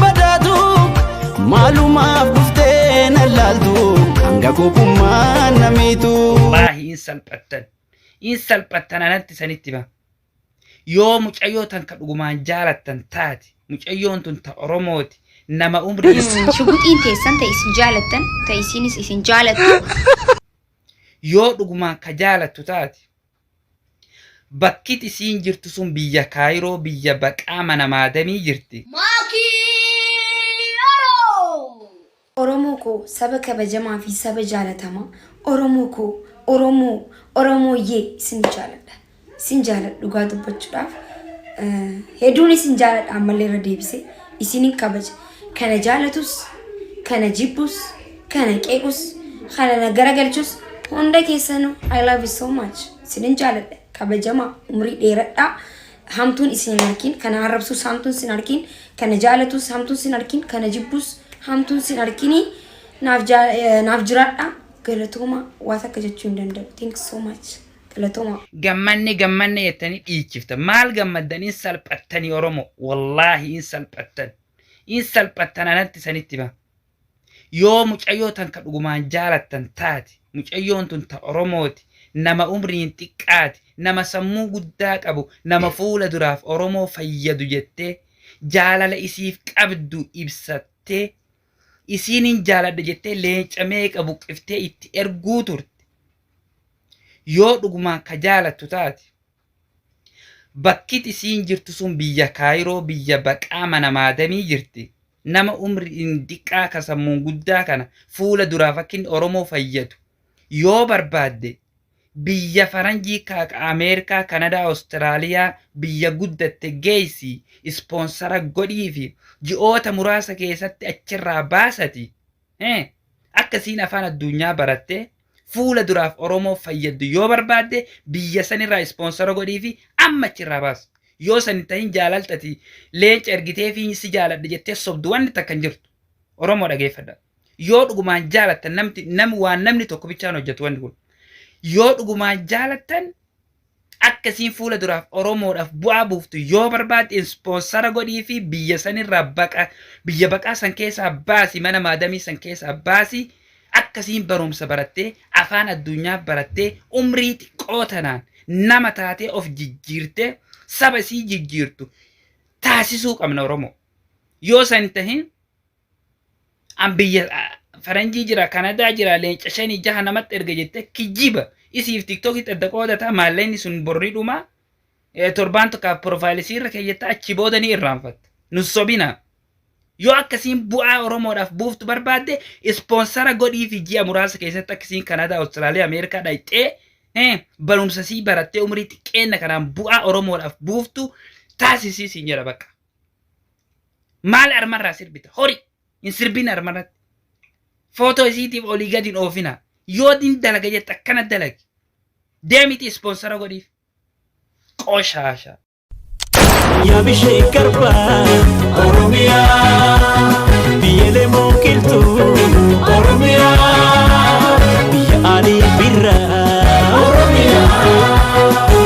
badaatu maalumaaf dhuftee na laaltu hanga kophummaa na miitu. Wallaahi hin salphattan. Hin salphattan anatti isanitti hima. Yoo mucayyoo tan ka dhugumaan jaalattan taate mucayyoon tun ta Oromooti nama umrii Shuguxiin teessan ta isin jaalattan ta isiinis isin jaalattu. yoo dhugumaan ka jaalattu taate Bakkit isiin jirtu sun biyya Kaayiroo biyya baqaa mana maadamii jirti. Maakii Oro! Oromoo koo saba kabajamaa fi saba jaalatamaa Oromoo koo Oromoo Oromooyyee isin jaaladha isin jaaladha dhugaa dubbachudhaaf heduun isin jaaladha ammallee irra deebisee isinin kabaja Kana jaalatus, kana jibbus, kana qeequs, kana na garagalchus hunda keessanuu I love you so much. Sinin jaaladha. Kabajamaa umrii dheeradhaa. Hamtuun isin hin arkin, kana arrabsus hamtuun sin arkin, kana jaalatus hamtuun sin arkin, kana jibbus hamtuun sin arkini. Naaf jaa- eh, naaf jiraadha. Galatooma waa takka jechuu hin danda'u. Thank you so much. Galatooma. gammanne gammanne jettanii dhiichifta maal gammaddan in salphattanii oromo wallaahi in salphattan in salphattan anatti isanitti hima yoo mucayyoo tan ka dhugumaan jaalattan taate mucayyoon tun ta oromooti nama umriin xiqqaati nama sammuu guddaa qabu nama fuula duraaf oromoo fayyadu jettee jaalala isiif qabdu ibsattee isiinin jaaladha jettee leenca meeqa buqqiftee itti erguu turte yoo dhugumaan ka jaalattu taate Bakkit isiin jirtu sun biyya Kaayiroo biyya baqaa mana maadamii jirti. Nama umriin diqqaa ka sammuun guddaa kana fuula duraaf akka inni Oromoo fayyadu yoo barbaadde biyya faranjii ka akka Ameerikaa, Kanadaa, Awustiraaliyaa biyya guddatte geessi ispoonsara godhiifi ji'oota muraasa keessatti achirraa baasati akka isiin afaan adduunyaa barattee Fuula duraaf Oromoof fayyaddu yoo barbaadde biyya sanirraa ispoonsara godhiifi amma achirraa baasi. Yoo san hin tahin jaalalta ati leenca ergiteefi si jaaladhe jettee sobdu wanni takka hin jirtu. Oromoo dhageeffadhaa. Yoo dhugumaan jaalattan namti nam waan namni tokko bichaan hojjatu wanni kun. Yoo dhugumaan jaalattan Akka isiin fuula duraaf Oromoodhaaf bu'aa buuftu yoo barbaadde ispoonsara godhiifi biyya sanirraa baqa biyya baqaa san keessaa baasi mana maadamii san keessaa baasi akka isiin barumsa barattee afaan addunyaa barattee umrii xiqqoo tanaan nama taatee of jijjiirtee saba isii jijjiirtu taasisuu qabna Oromoo. Yoo san hin tahin an biyya faranjii jira kanadaa jira leenca shanii jaha namatti erga jette kijiba isiif tiktokitti adda qoodata maalleenni sun borri dhuma torbaan tokkaaf profaayilii irra keeyyata achi booda ni irraanfatta nun sobina yoo akkasiin bu'aa oromoodhaaf buuftu barbaadde ispoonsara godhii fi ji'a muraasa keessatti akkasiin kanadaa awustiraaliyaa ameerikaa dhaqxee barumsa sii barattee umrii xiqqeenna kanaan bu'aa oromoodhaaf buuftu taasisii siin jedha bakka Maal armarraa sirbita? Hori! Hin sirbin armarratti. Footoo isiitiif olii gadi hin oofina. Yoo din dalaga jette akkana dalagi. Deemiti ispoonsara godhiif. Qoshaasha. Yaa bishee garbaa Oromiyaa Biyyeelee mooqiltuu Oromiyaa Biyya aalii birraa Oromiyaa